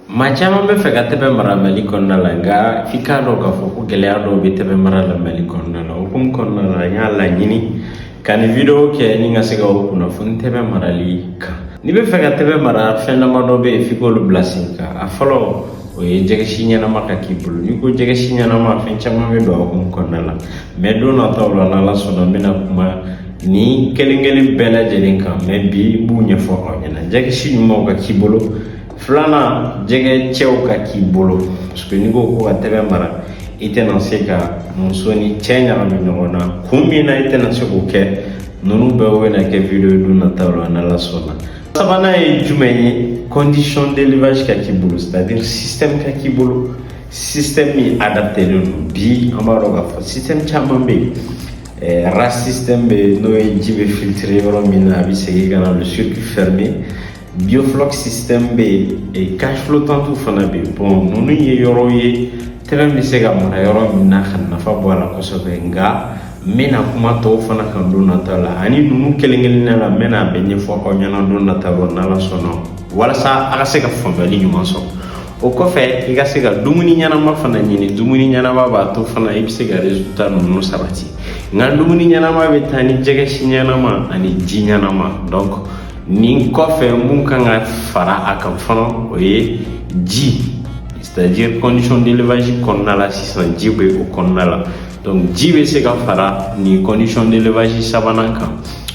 Maa caman bɛ fɛ ka tɛbɛn mara mali kɔnɔna la nka f'i k'a dɔn k'a fɔ ko gɛlɛya dɔw bɛ tɛbɛn mara la mali kɔnɔna la o hukumu kɔnɔna la n y'a laɲini ka nin video kɛ ni ka se k'aw kunnafoni tɛbɛn marali kan n'i bɛ fɛ ka tɛbɛn mara fɛn damadɔ bɛ yen f'i k'olu bila sen kan a fɔlɔ o ye jɛgɛsi ɲɛnama ka k'i bolo n'i ko jɛgɛsi ɲɛnama fɛn caman bɛ don a hukumu kɔnɔna la mais don nataw la n'ala sɔnna n bɛna kuma nin kelen kelen bɛɛ lajɛlen kan mais bi n b'u ɲɛfɔ aw ɲɛna jɛgɛsi ɲumanw ka k'i bolo Filanan jɛgɛ cɛw ka k'i bolo parce que n'i ko ko ka tɛbɛn mara i tɛna se ka muso ni cɛ ɲagami ɲɔgɔn na kun min na i tɛna se k'o kɛ ninnu bɛɛ bɛna kɛ video don nataw la n'ala sɔnna sabanan ye jumɛn ye condition d'élevage ka k'i bolo c'est à dire système ka k'i bolo système min adaptelen don bi an b'a dɔn k'a fɔ système caman bɛ yen RAS système bɛ yen n'o ye ji bɛ filtrer yɔrɔ min na a bɛ segin ka na le circuit fermé Biofloc système bɛ yen e cage flottante fana bɛ yen bon ninnu ye yɔrɔ ye tɛbɛn bɛ se ka mara yɔrɔ min na ka nafa bɔ a la kosɛbɛ nka n bɛna kuma tɔw fana kan don nataw la ani ninnu kelen kelenna la n bɛna a bɛɛ ɲɛfɔ aw ɲɛna don nataw la n'ala sɔnna walasa a ka se ka faamuyali ɲuman sɔrɔ o kɔfɛ i ka se ka dumuni ɲɛnama fana ɲini dumuni ɲɛnama b'a to fana i bɛ se ka résultat ninnu sabati nka dumuni ɲɛnama bɛ taa ni jɛgɛsi ɲɛnama ani ji ɲɛnama donc nin kɔfɛ mun kan ka fara a kan fana o ye ji c'est-à-dire condition d'élevage kɔnɔna la sisan ji bɛ o kɔnɔna la donc ji bɛ se ka fara nin condition d'élevage sabanan kan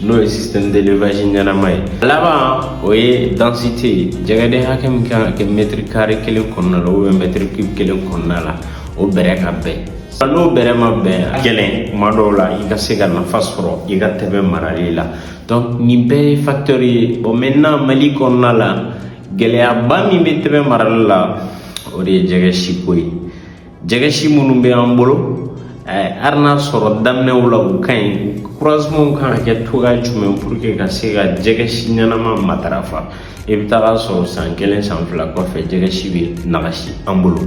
n'o ye système d'élevage ɲɛnama ye laban o ye densité ye jɛgɛden hakɛ min kan ka kɛ mètre carré kelen kɔnɔna la ou bien mètre cube kelen kɔnɔna la o bɛrɛ ka bɛn n'o bɛrɛ ma bɛn gɛlɛn kuma dɔw la i ka se ka nafa sɔrɔ i ka tɛbɛn marali la donc nin bɛɛ ye facteur ye bon maintenant mali kɔnɔna la gɛlɛyaba min bɛ tɛbɛn marali la o de ye jɛgɛsi ko ye jɛgɛsi minnu bɛ an bolo eh, hali n'a sɔrɔ daminɛw la u ka ɲi croisement kan ka kɛ cogoya jumɛn pour que ka se ka jɛgɛsi ɲɛnama matarafa i bɛ taga sɔrɔ san kelen san fila kɔfɛ jɛgɛsi bɛ nagasi an bolo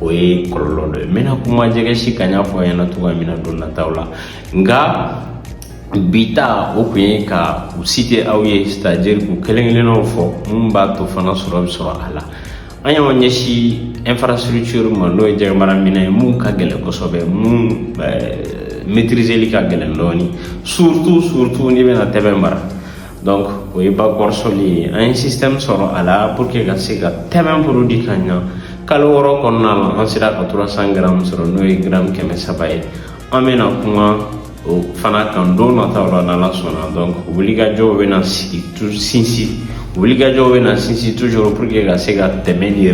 o ye kɔlɔlɔ dɔ ye n bɛna kuma jɛgɛsi kan n y'a fɔ a ɲɛna cogoya min na don nataw la nka bi ta o kun ye ka u citer aw ye c'est-à-dire k'u kelen kelennaw fɔ mun b'a to fana sɔrɔ bɛ sɔrɔ a la an y'an ɲɛsin infrastructure ma n'o ye jɛgɛmara minɛn ye mun ka gɛlɛn kosɛbɛ mun maîtriseli ka gɛlɛn dɔɔni surtout surtout n'i bɛna tɛbɛn mara donc o ye bac hors-sol ye an ye système sɔrɔ a la pour que ka se ka tɛbɛn produit ka ɲa kalo wɔɔrɔ kɔnɔna la an sera ka 300 gramme sɔrɔ n'o ye gramme kɛmɛ saba ye an bɛna kuma o fana kan don nataw la n'ala sɔnna donc wulikajɔw bɛna sigi sinsin wulikajɔw bɛna sinsin toujours pour que ka se ka tɛmɛ ni